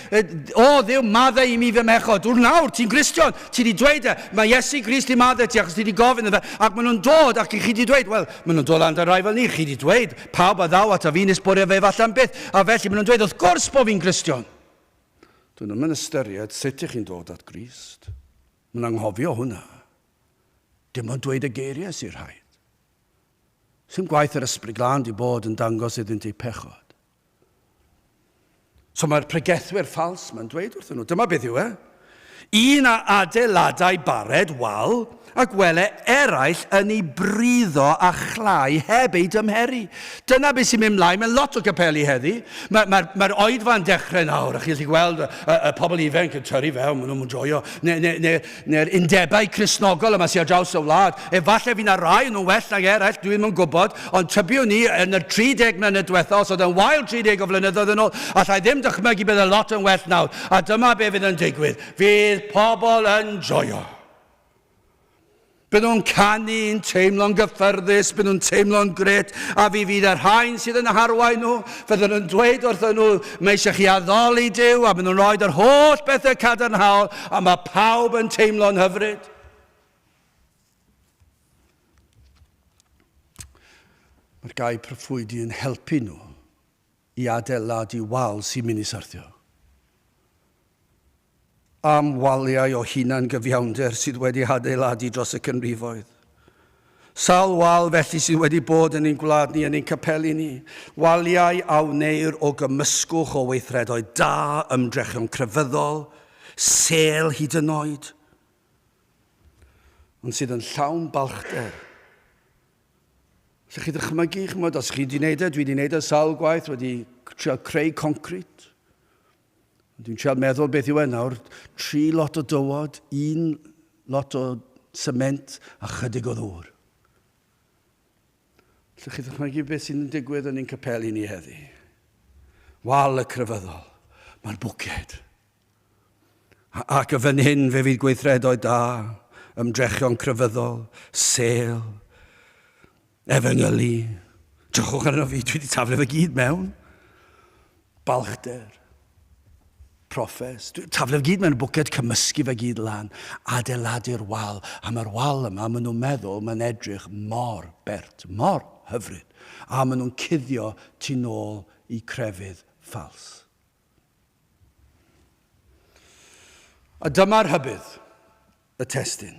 o ddiw, maddau i mi fy mechod, wr nawr, ti'n Gristion, ti wedi dweud e, mae Iesu Grist i maddau ti achos ti wedi gofyn y fe, ac maen nhw'n dod ac chi wedi dweud, wel, maen nhw'n dod lan da rai fel ni, chi wedi dweud, Pawb a ddaw ata fi'n esbonio fe efallai'n beth, a felly maen nhw'n dweud, wrth gwrs bod fi'n Gristion! Dyn nhw'm yn ystyried sut ych chi'n dod at Grist. Mae'n anghofio hwnna. Dim ond dweud y geiriau sy'n rhaid. Sy'n gwaith yr Ysbryd Glân di bod yn dangos iddynt eu pechod. So mae'r pregethwyr ffals mae'n dweud wrthyn nhw, dyma beth yw e, un a adeiladau bared wal a gwele eraill yn ei briddo a chlai heb ei dymheru. Dyna beth sy'n mynd mlaen mewn lot o gapeli heddi. Mae'r mae, mae, mae oedfa'n dechrau nawr, a chi'n gallu gweld y, y, y pobl ifanc yn tyrru fewn, maen nhw'n joio. Neu, neu, neu neu'r undebau Cristnogol yma sy ar draws y wlad. Efallai fy' 'na rai o nhw'n well nag eraill, dwi'm yn gwybod, ond tybiwn i, yn y 30 mlynedd diwetha', os oedd e'n wael 30 o flynyddoedd yn ôl, alla i ddim dychmygu bydd e lot yn well nawr. A dyma be' fydd yn digwydd, fydd pobl yn joio. Bydden nhw'n canu'n teimlo'n gyffyrddus, bydden nhw'n teimlo'n grêt, a fe fydd y rhain sydd yn harwain nhw, Byddwn yn dweud wrthyn nhw, mae eisiau chi addoli Duw a byddwn yn rhoi yr holl bethau cadarnhaol a mae pawb yn teimlo'n hyfryd. Mae'r gair proffwydi yn helpu nhw i adeiladu wal sy'n mynd i syrthio. am waliau o hunan-gyfiawnder sydd wedi hadeiladu dros y cynrifoedd. Sawl wal felly sydd wedi bod yn ein gwlad ni, yn ein capeli ni? Waliau a wneir o gymysgwch o weithredoedd da, ymdrechion crefyddol, sêl hyd yn oed, ond sydd yn llawn balchder. Lle chi ddychmygu, chymod, os chi wedi gwneud e, dwi wedi gwneud e sawl gwaith, wedi trio creu concrit, Dwi'n trial meddwl beth yw e nawr, tri lot o dywod, un lot o sement a chydig o ddŵr. Lle chi ddychmygu beth sy'n digwydd yn ein capeli ni heddi? Wal y crefyddol, mae'r bwced. Ac y fan hyn fe fydd gweithredoedd da, ymdrechion crefyddol, sel, Efengyli, Drychwch arno fi, dwi 'di taflu fe gyd mewn. Balchder, Proffes, dwi 'di taflu fe gyd mewn y bwced, cymysgu fe gyd lan, adeiladu'r wal, a mae'r wal yma, maen nhw'n meddwl, mae'n edrych mor bert, mor hyfryd, a maen nhw'n cuddio tu nôl i crefydd ffals. A dyma'r rhybudd, y testun.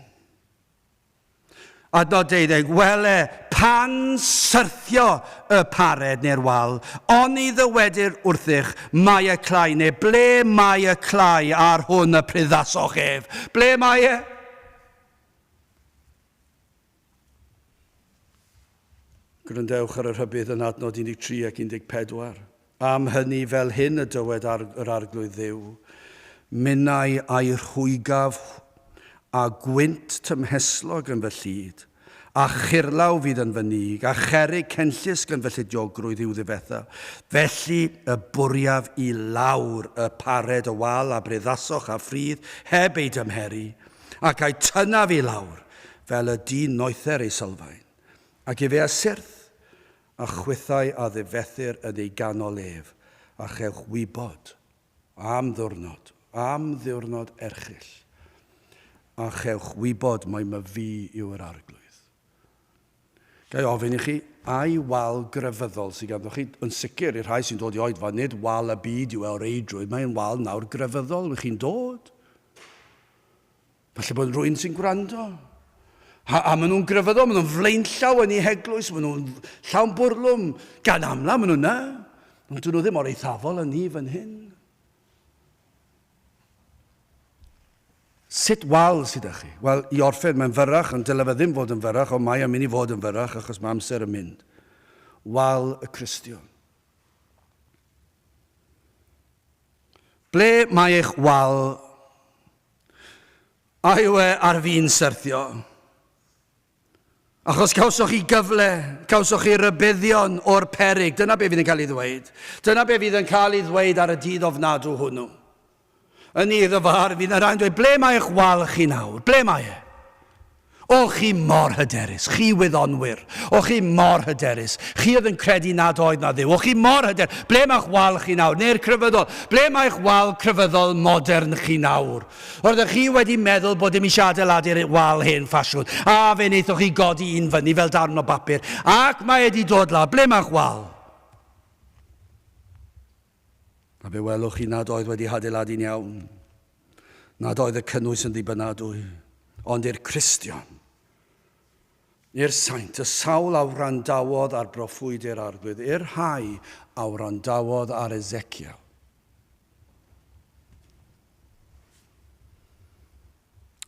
Adnod 12, Wele, pan syrthio y pared neu'r wal, oni ddywedir wrthych, Mae y clai, neu Ble mae y clai ar hwn y pryddasoch ef? Ble mae e? Gwrandewch ar y rhybudd yn adnod 13 ac 14. Am hynny, fel hyn y dywed arg, yr Arglwydd Dduw, Minnau a'i rhwygaf a gwynt tymhestlog yn fy llid, a churlaw fydd yn fy nig, a cherrig cenllysg yn fy llidiogrwydd i'w ddifetha. Felly y bwriaf i lawr y pared y wal a breddasoch a phridd heb ei dymheru, ac a'i tynnaf i lawr fel y dyn noether ei sylfaen, ac efe a syrth, a chwithau a ddifethir yn ei ganol ef, a chewch wybod, am ddiwrnod, am ddiwrnod erchyll, a chewch wybod mai my Fi yw yr Arglwydd. Ga i ofyn i chi, ai wal grefyddol sydd ganddoch chi? Yn sicr, i'r rhai sy'n dod i oedfa, nid wal y byd yw e o reidrwydd, mae'n wal nawr grefyddol, wych chi'n dod? Falle bod rwy'n sy'n gwrando. A, a maen nhw'n grefyddol, maen nhw'n flaenllaw yn ei heglwys, maen nhw'n llawn bwrlwm, gan amla maen nhw'n na. Ond dyn nhw ddim o'r eithafol yn ni fan hyn. Sut wal sydd â chi? Wel, i orffen, mae'n fyrrach, ond dylai fe ddim fod yn fyrrach, ond mae o'n mynd i fod yn fyrrach achos mae amser yn mynd. Wal y Cristion. Ble mae eich wal A yw e ar fin syrthio? Achos cawsoch chi gyfle, cawsoch chi rybuddion o'r peryg. Dyna be fydd yn cael ei ddweud. Dyna be fydd yn cael ei ddweud ar y dydd ofnadw hwnnw. Yn ei ddyfar, fydd yna rhai'n dweud, ble mae eich wal chi nawr? Ble mae e? O chi mor hyderus, chi wyddonwyr! O chi mor hyderus, chi oedd yn credu nad oedd 'na Dduw! O chi mor hyder! Ble mae'ch wal chi nawr? Neu'r crefyddol? Ble mae'ch wal crefyddol modern chi nawr? Roeddech chi wedi meddwl bod dim eisiau adeiladu'r wal hen ffasiwn, a fe wnaethoch chi godi un fyny fel darn o bapur, ac mae e 'di dod lawr. Ble mae'ch wal? A be welwch chi nad oedd wedi hadeiladu'n iawn? Nad oedd y cynnwys yn ddibynadwy, ond i'r Cristion, i'r saint, y sawl a wrandawodd ar broffwydi'r arglwydd, i'r rhai a wrandawodd ar Ezekiel.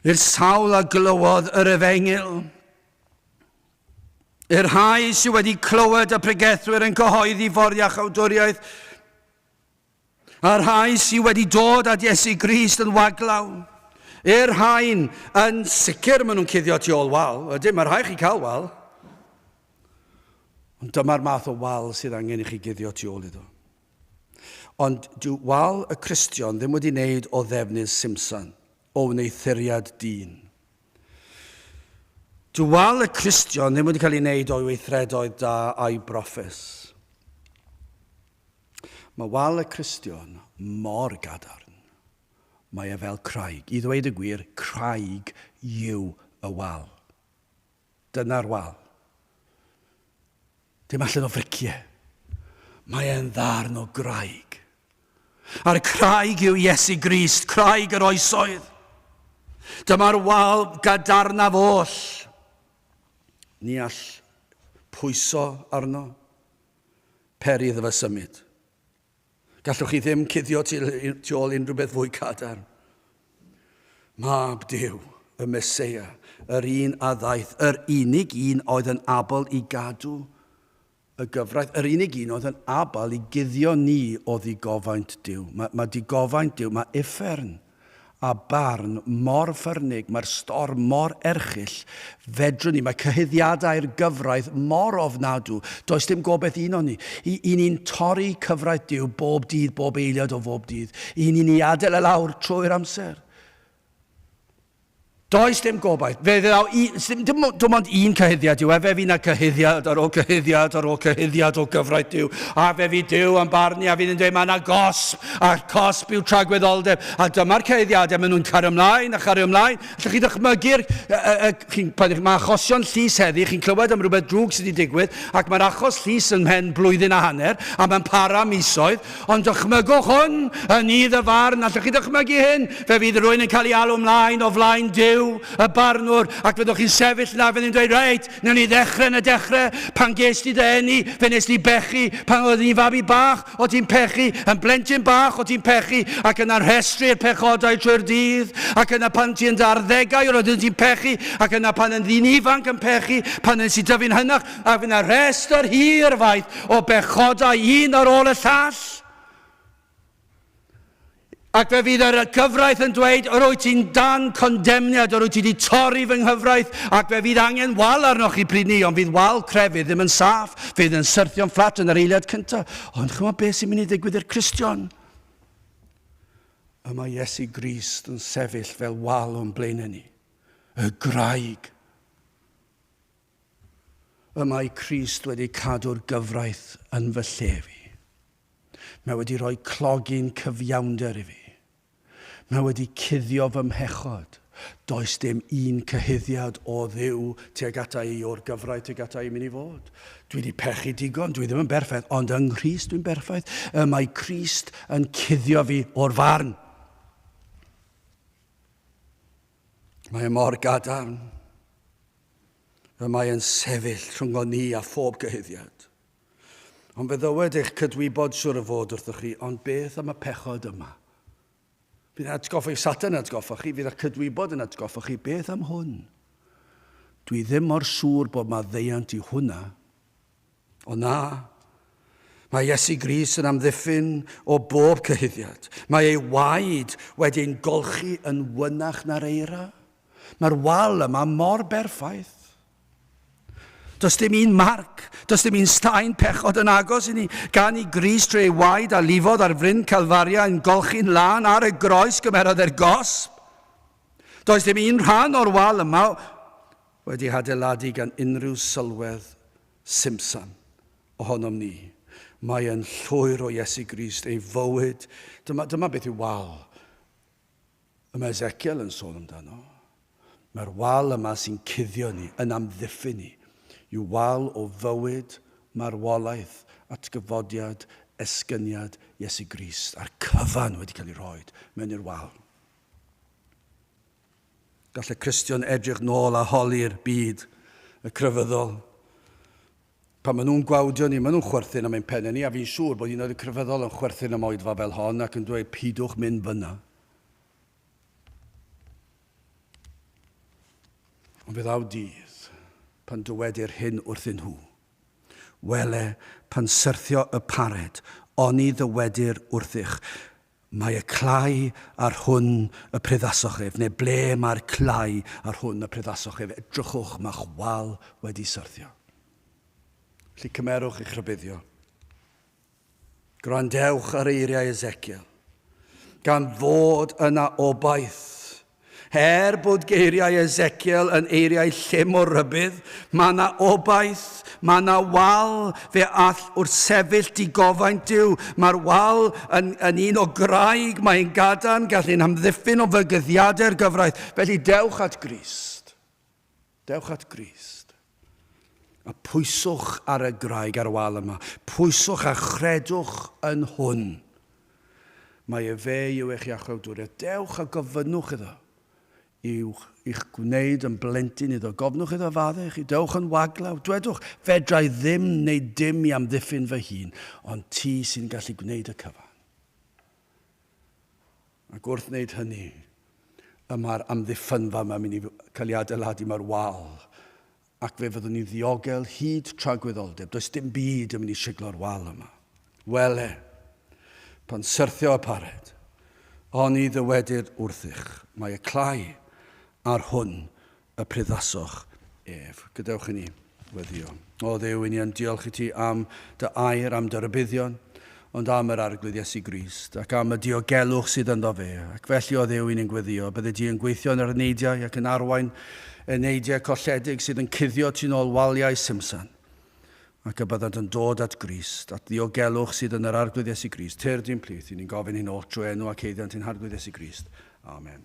I'r sawl a glywodd yr efengyl, I'r rhai sydd wedi clywed y pregethwyr yn cyhoeddi ffordd iachawdwriaeth, a'r rhai sydd wedi dod at Iesu Grist yn waglaw, i'r rhain yn sicr maen nhw'n cuddio tu ôl wal. Ydyn, mae rhai chi cael wal. Ond dyma'r math o wal sydd angen i chi guddio tu ôl iddo. Ond dyw wal y Cristion ddim wedi wneud o ddefnydd Simpson. o wneuthuriad dyn. Dual y Cristion ddim wedi cael ei wneud o'i weithredoedd da a'i broffus. Mae wal y Cristion mor gadarn. Mae e fel craig. I ddweud y gwir, craig yw y wal. Dyna'r wal. Dim allan o fricie. Mae e'n ddarn o graig. A'r craig yw Iesu Grist, craig yr oesoedd. Dyma'r wal gadarnaf oll. Ni all pwyso arno, peri iddo fe symud. Gallwch chi ddim cuddio tu ôl unrhyw beth fwy cadarn. Mab Duw, y Meseia, yr un a ddaeth, yr unig un oedd yn abl i gadw y gyfraith, yr unig un oedd yn abl i guddio ni o ddigofaint Duw. Mae, mae digofaint Duw, mae uffern a barn mor ffyrnig, mae'r storm mor erchyll, fedrwn ni, mae cyhuddiadau'r gyfraith mor ofnadw, does dim gobaith unon ni. I, i ni'n torri cyfraith Duw bob dydd, bob eiliad o bob dydd. I ni'n ei adael e lawr trwy'r amser. Does dim gobaith. Fe ddaw i... Dim, dim, dim ond un cyhuddiad yw e, fe fu na gyhuddiad ar ôl cyhuddiad ar ôl cyhuddiad o gyfraith Duw, a fe fu Duw yn barnu a fydd yn dweud mae yna gosb, a'r cosb yw tragwyddoldeb, a dyma'r cyhuddiadau, maen nhw'n cario ymlaen a chario ymlaen. Allwch chi ddychmygu'r... Mae achosion llys heddi, chi'n clywed am rhywbeth drwg sydd wedi digwydd, ac mae'r achos llys yn mhen blwyddyn a hanner, a mae'n para misoedd, Ond dychmygwch hwn, yn i ddyfarn, allwch chi ddychmygu hyn? Fe fydd rhywun yn cael ei alw ymlaen o flaen Duw, y barnwr, ac fyddwch chi'n sefyll yna, fydd yn dweud, reit, newn ni ddechrau yn y dechrau, pan ges ti dy eni, fe nes di bechu, pan oedd ni'n fabi bach, o ti'n pechu, yn blentyn bach, o ti'n pechu, ac yna rhestru'r pechodau trwy'r dydd, ac yna pan ti yn dy arddegau, roedden ti'n pechu, ac yna pan yn ddyn ifanc yn pechu, pan nes i dyfu'n hynach, a fydd yna rhestr hir faith o bechodau un ar ôl y llall. Ac fe fydd yr gyfraith yn dweud, yr wyt ti'n dan condemniad, yr wyt ti wedi torri fy nghyfraith, ac fe fydd angen wal arnoch chi pryd ni, ond fydd wal crefydd ddim yn saff, fydd yn syrthio'n fflat yn yr eiliad cyntaf. Ond chymod beth sy'n mynd i ddigwydd i'r Cristion? y mae Iesu Grist yn sefyll fel wal o'n blaenau ni, y graig. Y mae Crist wedi cadw'r gyfraith yn fy lle fi. Mae wedi rhoi clogi'n cyfiawnder i fi. Mae wedi cuddio fy mhechod. Does dim un cyhuddiad o Dduw tuag ata i o'r gyfraith tuag ata i mi ni fod. Dwi di pechu digon, dwi ddim yn berffaith, ond yng Nghrist dwi'n berffaith. Y mae Crist yn cuddio fi o'r farn. Mae e mor gadarn. Y mae yn sefyll rhyngon ni a phob gyhuddiad. Ond fe ddywed eich cydwybod siwr o fod wrthoch chi, ond beth am y pechod yma? Bydd yn atgoffa i Satan yn atgoffa chi, fydd â cydwybod yn atgoffa chi, beth am hwn? Dwi ddim mor siŵr bod ma ddeiant i hwnna, O na, mae Iesu Gris yn amddiffyn o bob cyhuddiad. Mae ei waed wedi ein golchi yn wynach na'r eira. Mae'r wal yma mor berffaith. Does dim un marc, does dim un staen pechod yn agos i ni, gan i Gris trwy ei waed a lifodd ar fryn Calfaria yn golchi'n lân ar y groes gymerodd e'r gosb. Does dim un rhan o'r wal yma Wedi hadeiladu gan unrhyw sylwedd Simson ohonom ni, mae yn llwyr o Iesu Grist, ei fywyd. Dyma, dyma beth yw wal y mae Ezekiel yn sôn amdano. Mae'r wal yma sy'n cuddio ni, yn amddiffyn ni, yw wal o fywyd, marwolaeth, atgyfodiad, esgyniad Iesu Grist, a'r cyfan wedi cael ei roi mewn i'r wal. Gall y Cristion edrych nôl a holi'r byd y crefyddol. Pan maen nhw'n gwawdio ni, maen nhw'n chwerthin am ein pennau ni, a fi'n siŵr bod un o'r crefyddol yn chwerthin am oedfa fel hon ac yn dweud pidwch mynd fyna. Ond fe ddaw dydd pan dywedir hyn wrthyn nhw. Wele, pan syrthio y pared, oni ddywedir wrthych, Mae y clai ar hwn y priddasoch ef, neu ble mae'r clai ar hwn y priddasoch ef, edrychwch, mae'ch wal wedi syrthio. Felly cymerwch eich rhybuddio. Gwrandewch ar eiriau Ezekiel, gan fod yna obaith Er bod geiriau Ezekiel yn eiriau llym o rybudd, mae na obaith, mae na wal, fe all wrthsefyll digofaint Duw. Mae'r wal yn, yn un o graig, mae'n gadarn, gall ein hamddiffyn o fygythiadau'r gyfraith. Felly dewch at Grist. Dewch at Grist, a pwyswch ar y graig ar y wal yma. Pwyswch a chredwch yn hwn. Mae e fe yw eich Iachawdwriaeth. Dewch a gofynnwch iddo i'w i'ch gwneud yn blentyn iddo. Gofnwch iddo faddau chi. Dewch yn waglaw. Dwedwch, Fedra i ddim wneud dim i amddiffyn fy hun, ond ti sy'n gallu gwneud y cyfan. Ac wrth wneud hynny, y mae'r amddiffynfa yma'n mynd i cael ei adeiladu mor wal ac fe fyddwn ni'n ddiogel hyd tra gwyddolldeb. Does dim byd yn mynd i siglo'r wal yma. Wele, pan syrthio apared, oni ddywedir wrthych, mae y clai ar hwn y pryddasoch ef. Gadewch i ni weddio. O Dduw, i ni yn diolch i ti am dy air, am dy rybuddion, ond am yr arglwydd Iesu Grist, ac am y diogelwch sydd ynddo fe. Ac felly, o Dduw, i ni'n gweddio, bydde di yn gweithio yn yr eneidiau ac yn arwain eneidiau colledig sydd yn cuddio tu nôl waliau Simson, ac y byddant yn dod at Grist, at ddiogelwch sydd yn yr arglwydd Iesu Grist. Tyr di'n plith, i ni'n gofyn hyn oll trwy enw ac eiddiant i'n harglwydd Iesu Grist. Amen.